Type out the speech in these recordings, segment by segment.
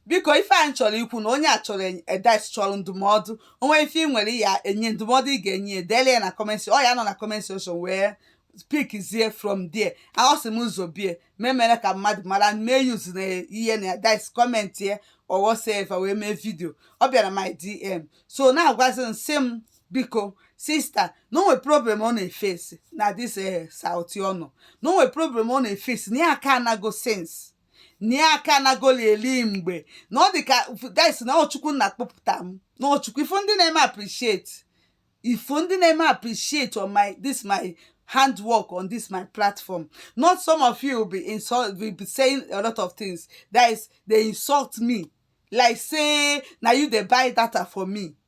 biko ife a chọrọ ikwu na onye a chọrọ advice chọrọ ndụmọdụ o nwee ife ị nwere ya enye ndụmọdụ ị ga-enye ya dele ya na comment ọ ya nọ na comment section wee pickzie from there aghọsị m ụzọ bie memere ka mmadụ mara mee use na ihe na edit comment ya or whatsoever wee mee video ọ bịara my dm so na-agwazi m sị m biko sister na o nwe problem ọ na-eface na this eh, South anụ na o nwe problem ọ na-eface na ya aka anago sense na ya aka anagoli eli mgbe na ọ dị ka guys na ọ Chukwu nna kpọpụta m na ọ Chukwu ị fụ ndị na-eme appreciate ị fụ ndị na-eme appreciate on my this my handwork on this my platform not some of you will be insult will be saying a lot of things that is they insult me like say na you dey buy data for me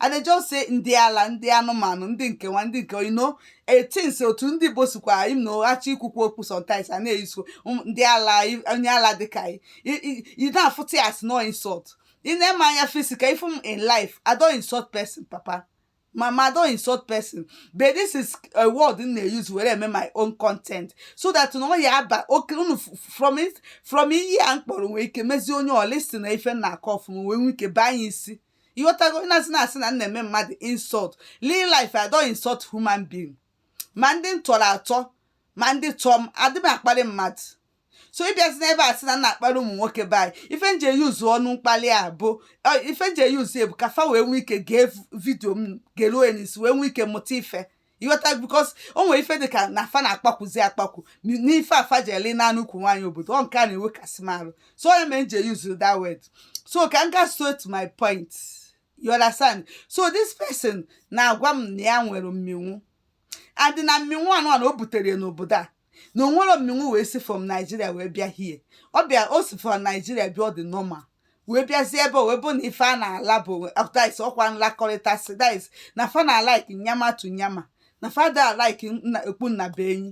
I dey just say ndị ala ndị anụmanụ ndị nke nwa ndị nke you know etins otu ndị Igbo sikwa im na ụghachi ikwukwu okwu sometimes a na-use um, ndị ala onye ala dịka ị na-afụta ya as no insult i nee m anya physical ị fụ m in life I don't insult person papa mama I don't insult person but this is a word m na-use wee eme my own content so that na ọ ya aba oke unu from from iyi a m kpọrọ nwee ike mezie onye ọ listen ife m na-akọ ọfụma wee nwee ike banye isi ịghọtago ị na-asị na-asị na m na-eme mmadụ insult real life I don't insult human being ma ndị m tọrọ atọ ma ndị tọọ m adị m akparị mmadụ so ịbịazi n'ebe a sị na m na-akparị ụmụ nwoke be anyị ife m ji use ọnụ mkpalị a bụ ọ, ife m ji use bụ ka fa wee nwee ike gee video m geruo ya n'isi wee nwee ike mụta ife ịghọta because o nwere ife dịka na fa na-akpakwuzi akpakwu n'ife fa ji ele naanị ukwu nwaanyị obodo ọ nke a na-ewekasị m arụ so ọ ya mere m ji use that word so ka m ga straight my point you understand so this person na-agwa m na ya nwere mmịnwụ and na mmịnwụ anụwa na o butere ya n'obodo a na o nwerọ mmịnwụ wee si from Nigeria wee bịa here ọ bịa o si from Nigeria bịa ọ dị normal wee bịazie ebe ọ wee bụ na ife a na-ala because ọkwa nlakọrịta si dis na fa na-alike nyama to nyama na fa da alike okpu nnabuenyi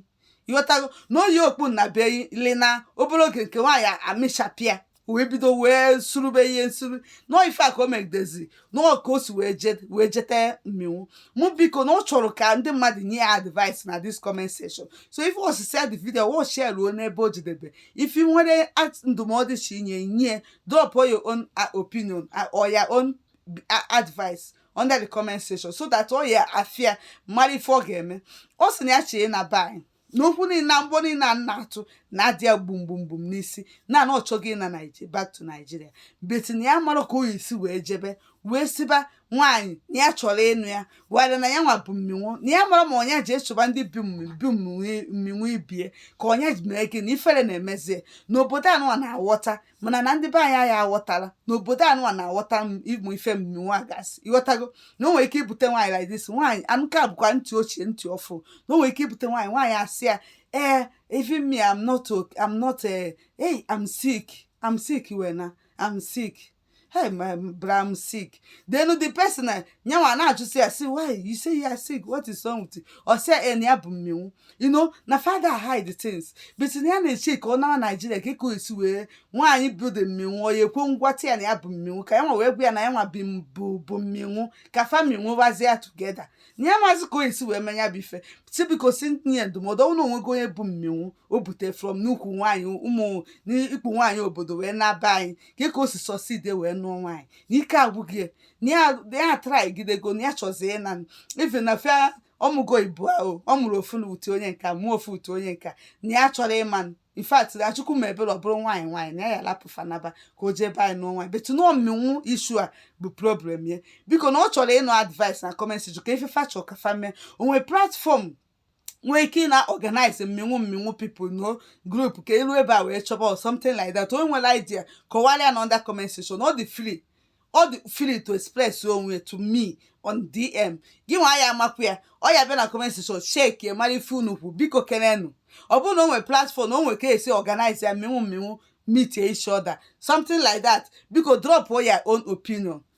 ịghọtago na o yi okpu nnabuenyi lina obere oge nke nwaanyị amịchapụ ya wee bido wee surube ihe nsuru nọọ ife a ka o megidezi nọọ ka o si wee je- wee jete mmịnwụ mụ biko na ọ chọrọ ka ndị mmadụ nye ya advice na this comment section so ị fụsịsịa the video watchie ruo n'ebe o jedebe ife i nwere at- ndụmọdụ chi inye nye drop your own uh, opinion uh, or your own uh, advice under the comment section so that ọ ya afụ ya mara ife ọ ga-eme ọ sị na ya chee na bai n'okwu niile na mgbọ niile a na-atụ na-adị ya gbum gbum gbum n'isi na na ọ chọghị ịna Naiji- back to Nigeria but na ya amarọ ka ọ ya-esi wee jebe wee sịba nwaanyị na ya chọrọ ịnụ ya wara na ya nwa bụ mmịnwụ na ya amarọ ma ọ nya je soba ndị bu mmị- bu mmịnwụ- mmịnwụ ibe ya ka ọ nya je mee gịnị ifere na-emezie n'obodo anụwa na-aghọta mana na ndị be anyị anyị aghọtala na obodo anụwa na-aghọta ịmụ ife mmịnwụ a gasị ịghọtago na o nwere ike ibute nwaanyị like this nwaanyị a nka bụkwa ntị ochie ntị ọfụ na o nwere ike ibute nwaanyị nwaanyị asị ya ee eh, even me I'm not okay I'm not eh, hey I'm sick I'm sick wena I'm sick hey my bram sick then the person na ya nwa na-ajụsị ya si why you say you are sick what is wrong with you ọ sị ya na ya bụ mmịnwụ you know na fa ada hide the things but na ya na-eche ka ọ nawa naijiria ka ka esi wee nwaanyị bụ the mmịnwụ ọ ya ekwe ngwata ya na ya bụ mmịnwụ ka ya nwa wee gwa ya na ya nwa bi m- bụ bụ mmịnwụ ka family nwebazie ya together na ya amazị ka o esi wee mee ya bụ ife si biko si m tinye ya ndụmọdụ ọ bụrụ na onwego onye bụ mmịnwụ o bute from n'ukwu nwaanyị ụmụ n'ikpu nwaanyị obodo wee na-aba anyị ka ka o si succeed wee nụọ nwaanyị na ike agwụgo ya na ya na ya trygidego na ya chọzie ịna ife na fa amụgo ibụọ ọ mụrụ ofu na utu onye nka mụọ ofu utu onye nka na ya chọrọ ịma in fact na chukwu mee ebere ọ bụrụ nwaanyị nwaanyị na ya ya lapụ fa naba ka o jee be anyị nụọ nwaanyị but na mmịnwụ issue a bụ problem ya biko na ọ chọrọ ịnụ advice na comment section ka ife fa chọrọ ka fa mee o nwee platform nwee ike ị na-organize mmịnwụ mmịnwụ people na group ka e luo ebe a wee chọba or something like that o nwere idea kọwara ya na under comment section ọ dị free ọ dị free to express onwe to me on dm gị nwa ya amakwa ya ọ ya bịa na comment section check ya mara ife unu kwu biko kenenu ọ bụrụ na o nwere platform na o nwere ka esi organize ya mmịnwụ mmịnwụ meet each other something like that biko drop your own opinion